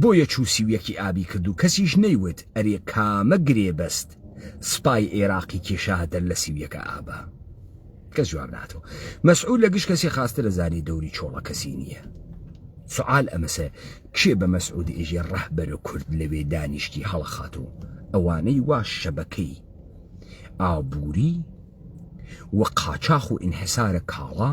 بۆیە چوو سی و یەکی ئابی کرد و کەسیش نەیوت ئەرێ کامە گرێبەست سپای ئێراقی کێشاتە لە سی و یەکە ئابە؟ کەس جواب ناتەوە مەسعود لە گشت کەسی خاسترە زاری دەوری چۆڵە کەسی نییە سعال ئەمەسە کێ بە مەسعود ئێژێ ڕەهبەرە کورد لەوێ دانیشتی هەڵەخات و ئەوانەی وا شەبەکەی ئابووری و قاچاخ و ئینحسارە کاڵا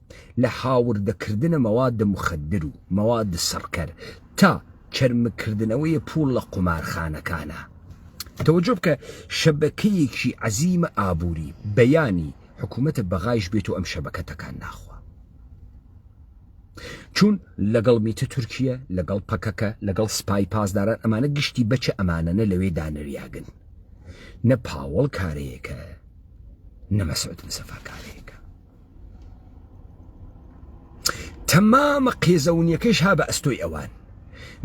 لە هاوردەکردنە مەواد مخدر و مەواد سڕکەر تا چەرمگکردنەوەی پووڵ لە قومارخانەکانە. تەوەجۆ بکە شەبەکەیەکی عەزیمە ئابووری، بەیانی حکوومەتە بەغایش بێت و ئەم شەبەکە تەکان ناخوا. چون لەگەڵ میتە تورکییە، لەگەڵ پەکەکە، لەگەڵ سپای پاسداران ئەمانە گشتی بەچە ئەمانەنە لەوێ دانریاگن. نە پاوەڵ کارەیەکە نە مەسعود مسەفا کارەیەکە. تەمامە قێزەونیەکەش ها بە ئەستۆی ئەوان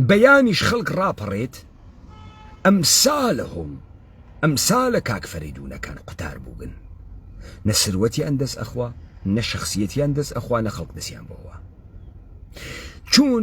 بەیانیش خەڵک ڕاپەڕێت ئەم سالە هۆم ئەم سالە کاک فەریدونەکان قوتار بووگن نە سروەتیان دەست ئەخوا نە شخصیەتیان دەست ئەخوا نە خەڵک دەستیان بۆەوە چون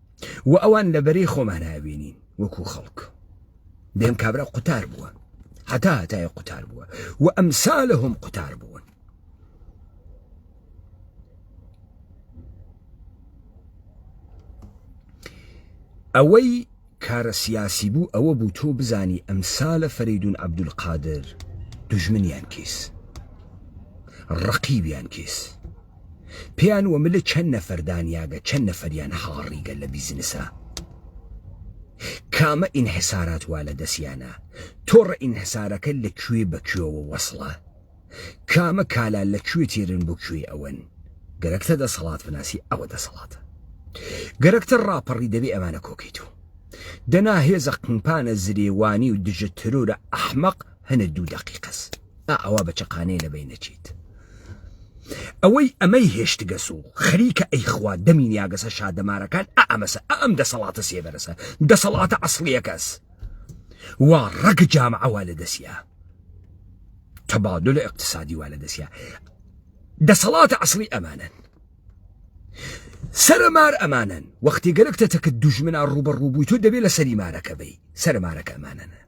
و ئەوان لە بەرەی خۆمان هاوێنین وەکو خەڵک دێم کابرا قوتار بووە هەتا هەتای قوتار بووە و ئەم سالە هەم قوتار بوون ئەوەی کارە سیاسی بوو ئەوە بوو تۆ بزانی ئەم سالە فەریدون عبدول قادر دژمنیان کیس ڕقیبیان کیس پێیان وە ملە چەند نەفەر دانیاگە چەند نەفەریان هاڕیگە لە بیزنسا کامە ئینحسارات وا لە دەسیانە تۆڕە ئینحسارەکە لە کوێ بە کوێوە وەسڵە کامە کالا لە کوێ تێرن بۆ کوێ ئەوەن گەرەکتە دەسەڵات بناسی ئەوە دەسەڵاتە گەرەکتە ڕاپەڕی دەبێ ئەمانە کۆکەیت و دەنا هێزە قنپانە زرێوانی و دژە ترۆرە ئەحمەق هەنە دوو دەقیقەس ئا ئەوا بە چەقانێ لە بەین ئەچیت. ئەوەی ئەمەی هێشتگەس و خەریکە ئەیخوا دەمی نیاگەسە شادەمارەکان ئا ئەمەسە ئا ئەم دەسەڵاتە سێبەرەسە دەسەڵاتە عەسڵیەکەس وا ڕەگ جامعە وا لە دەسیا تەبادل ئیقتسادی وا لە دەسیا دەسەڵاتە عەسڵی ئەمانەن سەرە مار ئەمانەن وەختی گەرەکتە تەکە دوژمنا ڕوبە ڕوبووی تۆ دەبێت لە سەری مارەکە بی سەرە مارەکە ئەمانەنە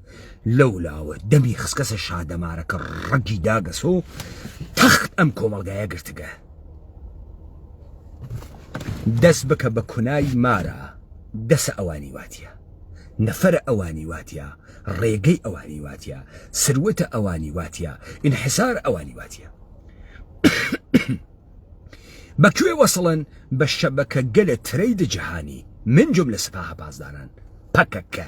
لەو لاوە دەمی خسکەسە شادەمارەکە ڕەگی داگەسۆ تەخت ئەم کۆمەلگایە گرتگە دەست بکە بە کونایی مارە دەسە ئەوانی واتە نەفرە ئەوانی واتە ڕێگەی ئەوانی واتە سروەتە ئەوانی واتە ئینحسار ئەوانی واتە بەکوێ وەسڵن بە شەبەکە گەلە ترەی دە جیهانی من جم لە سپاهە پاسداران پەکەکە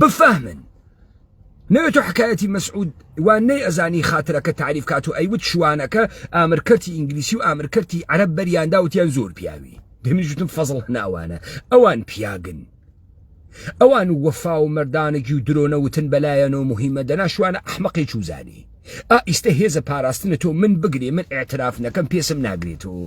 بفەهمن نەوێت و حکایەتی مەسعود وان نەی ئەزانی خاترەکە تعریف کات و ئەیوت شوانەکە ئامرکەتی ئینگلیسی و ئامرکەتی عەرب بەریاندا وتیان زۆر پیاوی دەمیژتم فەزڵ ناوانە ئەوان پیاگن ئەوان و وەفا و مردانەگی و درۆنە وتن بەلایەن و مهمە دەناشوانە ئەحمەقی چوزانی ئا ئیستە هێزە پاراستنە تۆ من بگرێ من اعتراف نەکەم پێسم ناگرێتەوە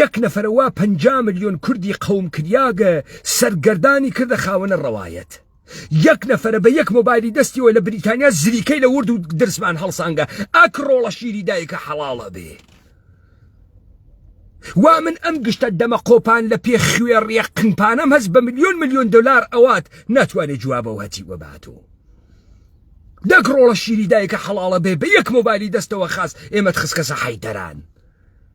یەک نەفەرە وا پەنجا ملیۆن کوردی قەوم کریاگە سەرگەردانی کردە خاوەنە ڕەوایەت. یەک نەفەرە بە یەک مۆبایلی دەستیەوە لە بریتانیا زریکەی لە ورد و درزمان هەڵسانگە ئەک ڕۆڵە شیری دایکە حەڵاڵ ئەبێ. وا من ئەم گشتە دەمە قۆپان لە پێ خوێڕیە قنپانەم هەست بە ملیۆن ملیۆن دلار ئەوات ناتوانێ جوابە وەتی وەباتۆ. دەک ڕۆڵە شیری دایکە حەڵاڵە بێ بە یەک مۆبایلی دەستەوە خاس ئێمەت خسکەسە حەیدەران.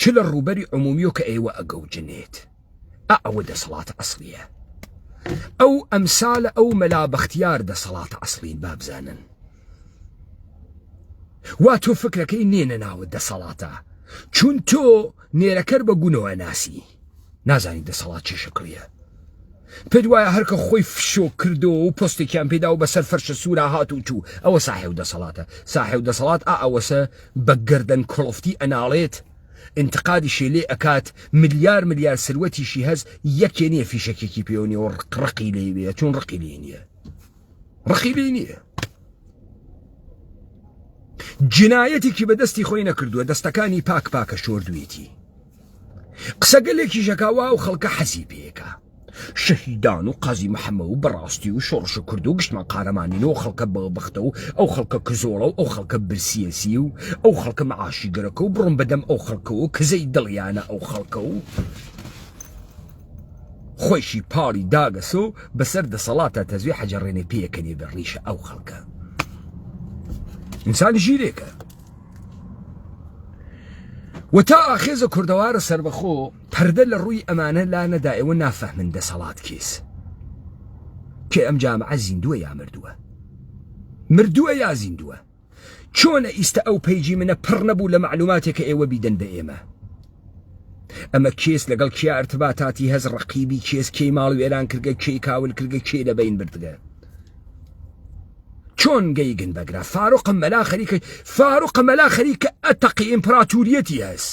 چ لە ڕووبەری عمومیۆ کە ئێوە ئەگەوجنێت ئا ئەوە دەسەڵاتە ئەسڵیە ئەو ئەمسالە ئەو مەلا بەختیار دەسەڵاتە ئەسڵین بابزانن وا تۆ فکرەکەی نێنە ناوە دەسەڵاتە چون تۆ نێرەکەر بە گونەوە ناسی نازانی دەسەڵات چی شکڵیە پێت وایە هەرکە خۆی فشۆ کردەوە و پۆستێکیان پێدا و بەسەر فەرشە سوورا هات و چوو ئەوە ساحێ و دەسەڵاتە ساحێ و دەسەڵات ئا ئەوەسە بە گردن کڵفتی ئەناڵێت انتقادی شێلێ ئەکات ملیار ملیار سروەتیشی هەز یەکێ نیە فیشەکێکی پێوە نیە و ڕقی لێوێ چون ڕقی لێ نیە ڕخی لێ نییە جنایەتێکی بەدەستی خۆی نەکردووە دەستەکانی پاک پاکە شۆردویەتی قسەگەلێکی ژەکاوا و خەڵکە حەزی پێەکە شەهیدان و قازی محەممە و بەڕاستی و شۆڕش کرد و گشتمان قارەمانین و خەڵکە بە بەختە و ئەو خەڵکە کزۆڵە و ئەو خەڵکە برسیەسی و ئەو خەڵکە معاشی گەرەکە و بڕم بەدەم ئەو خەڵکەوە کزەی دڵیانە ئەو خەڵکە و خۆیشی پاڵی داگەسۆ بەسەر دەسەڵاتە تەزوێ حەجەڕێنێ پێەکەنێ بە ڕیشە ئەو خەڵکە ئینسان ژیرێکە و تا ئاخێزە کوردەوارە سربەخۆ پەردە لە ڕووی ئەمانە لا نەدا ئێوە نافەهمن دەسەڵات کێس کێ ئەم جامعە زیندووە یا مردووە مردووە یا زیندووە چۆنە ئیستە ئەو پەیجی منە پڕ نەبوو لە معلوماتێک کە ئێوە بیدەن بە ئێمە ئەمە کێس لەگەڵ کیا ارتباتاتی هەز ڕقیبی کێس کێی ماڵ وێران کردگە کێی کاول کردگە کێ لە بین بردگە چۆن گەیگن بەگرە فاروق مەلا خەریکە فاروق مەلا خەریکە ئەتەقی ئیمپراتوریەتی هەست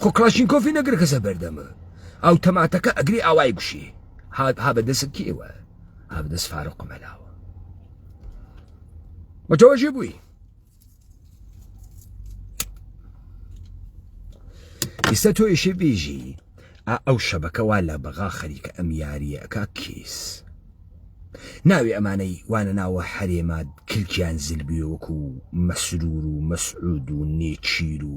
خۆ کڵاشینکۆفی نەگر کەسە بەردەمە ئەو تەماتەکە ئەگری ئاوای گوشی هات ها بە دەست کێوە ها بە دەست فارۆ قمەلاوە متوەژی بووی ئیستا تۆ یشی بێژی ئەو شەبەکەوا لە بەغا خەریکە ئەم یاریەکە کیس ناوی ئەمانەی وانە ناوە حەرێمات کلکیان زلبیوەکو مەسرور و مەسعود و نێچیر و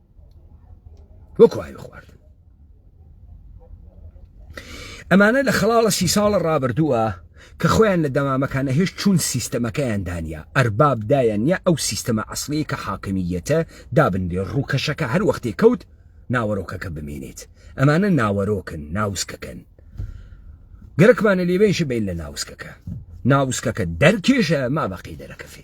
وەکو ئاوی خواردن ئەمانە لە خەڵاڵە سی ساڵە ڕابردووە کە خۆیان لە دەمامەکانە هێش چوون سیستەمەکەیان دانیا ئەرباب دایان نیە ئەو سیستەمە ئەسلی کە حاکمیەتە دابنێ ڕووکەشەکە هەر وەختێک کەوت ناوەرۆکەکە بمێنێت ئەمانە ناوەرۆکن ناوسکەکەن گەرەکمانە لێبێنش بین لە ناوسکەکە ناوسکەکە دەرکێشە ما بەقی دەرەکەفێ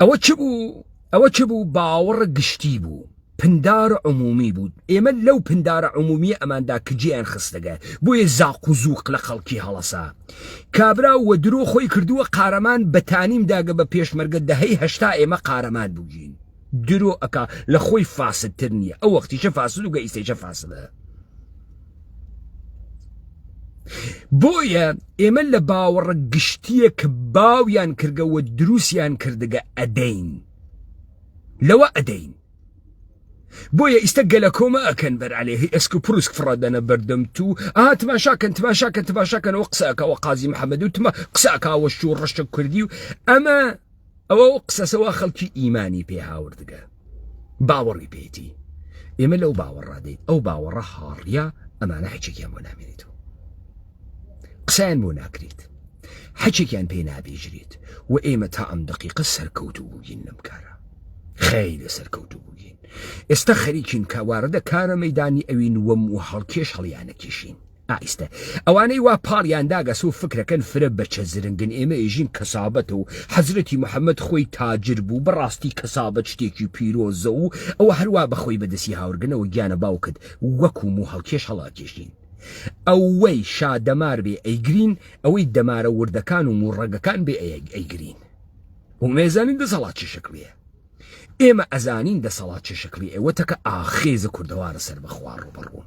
ئەوە چ بوو ئەوە چ بوو باوەڕە گشتی بوو پندارە عمومی بوو ئێمە لەو پندارە عمومی ئەماندا کجیان خستەگە بۆیە زاق و زووق لە خەڵکی هەڵەسا کابرا و درۆ خۆی کردووە قارەمان بەتانیم داگە بە پێشمەرگە دەهەی هەشتا ئێمە قارەمان بووین درۆ ئەکا لە خۆی فاسدتر نییە ئەو وەختیشە فاسد و گە ئیسەیشە فاسدە بۆیە ئێمە لە باوەڕە گشتیە کە باویان کردەوە دروستیان کردگە ئەدەین لەوە ئەدەین بۆیە ئیستا گەلە کۆمە ئەکەن بەر عليه ئەسک و پروسک فڕادەنە بەردەم تو ئا تماشاکەن تماشاکەن تماشاکەنەوە قسەکەەوە قازی محەممەد و تمە قسەکەوە شو ڕشتە کوردی و ئەمە ئەوە و قسەسە وا خەڵکی ئیمانی پێ هاوردگە باوەڕی پێیتی ئێمە لەو باوەڕا دێت ئەو باوەڕە هاڕیا ئەمانە حچێکیان بۆ نامێنێت و قسەیان بۆ ناکرێت حچێکیان پێ نابێژرێت و ئێمە تا ئەم دقیقە سەرکەوت و بووین لەم کارە خەی لە سەرکەوت و بووین ئێستا خەریکین کە واردە کارە مەدانی ئەوین وەم و هەڵکێش هەڵیانە کێشین ئایستە ئەوانەی وا پاڵیان داگەس و فکرەکەن فرە بەچە زرنگن ئێمە ئێژین کەسابەتە و حەزرەتی محەممەد خۆی تاجر بوو بەڕاستی کەسابەت شتێکی پیرۆزە و ئەوە هەروا بەخۆی بەدەسی هاورگنەوە گیانە باوکت وەکو موو هەڵکێش هەڵاکێشین ئەوەی شا دەمار بێ ئەیگرین ئەوەی دەمارە وردەکان و موو ڕەگەکان بێ ئەیەک ئەیگرین ومێزانین دەسەڵات چ شکلیە ئێمە ئەزانین دەسەڵات چ شکلی ئێوە تەکە ئاخێزە کوردەوارە سەر بەخوا ڕوبەڕوون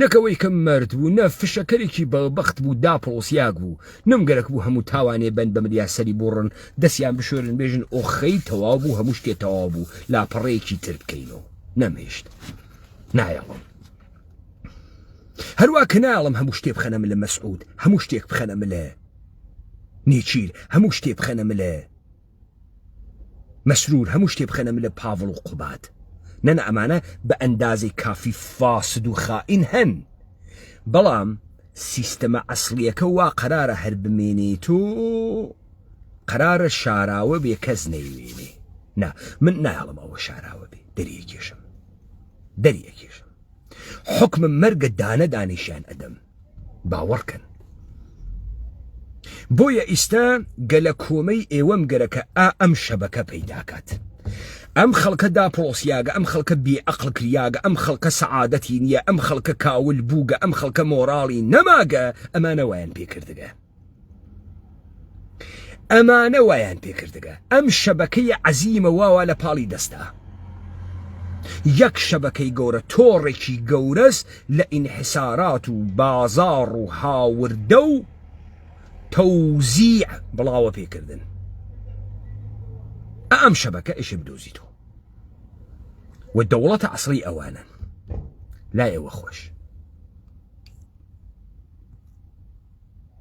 نەک ئەوەی کە مەرد بوو نە فشەکەرێکی بەڵبەخت بوو داپڵۆسیاک بوو نم گەرەک بوو هەموو تاوانێ بەن بە ملیا سەری بووڕن دەسیان بشۆرن بێژن ئۆخەی تەواو بوو هەموو شتێ تەواو بوو لاپەڕەیەکی تر بکەینەوە نەمهێشت نایەڵم هەروە کە نایڵم هەموو شتێ بخەنە ملە مەسعود هەموو شتێک بخەنە ملە نێچیر هەموو شتێ بخەنە ملە مەسرور هەموو شتێ بخەنە ملە پاڤڵ و قوباد نەنە ئەمانە بە ئەندازەی کافی فاسد و خائین هەن بەڵام سیستەمە ئەسڵیەکە وا قەرارە هەر بمێنێت و قەرارە شاراوە بێ کەس نەیوێنێ نا من نایڵم ئەوە شاراوە بێ دەریەکێشم دەریەکێشم حکمم مەرگە دانە دانیشیان ئەدەم باوەڕکەن بۆیە ئیستا گەلە کۆمەی ئێوەم گەرەکە ئا ئەم شەبەکە پەیداکات ئەم خەڵکە داپۆسیاگە ئەم خەڵکە بێعقل کریاگە ئەم خەڵکە سەعادەتی نییە ئەم خەڵکە کاول بووگە ئەم خەڵکە مۆراڵی نەماگە ئەمانەوەیان پێکردگە ئەمانە وایان پێکردگە ئەم شەبەکەی عەزیمە واوا لە پاڵی دەستا یەک شەبەکەی گەورە تۆڕێکی گەورەس لە ئینحسارات و بازاڕ و هاوردە و تەوزیع بڵاوە پێکردن ئەم شەبەکە ئێشێ بدۆزیتەوە و دەوڵەتە ئەسڵی ئەوانن لا ئێوە خۆش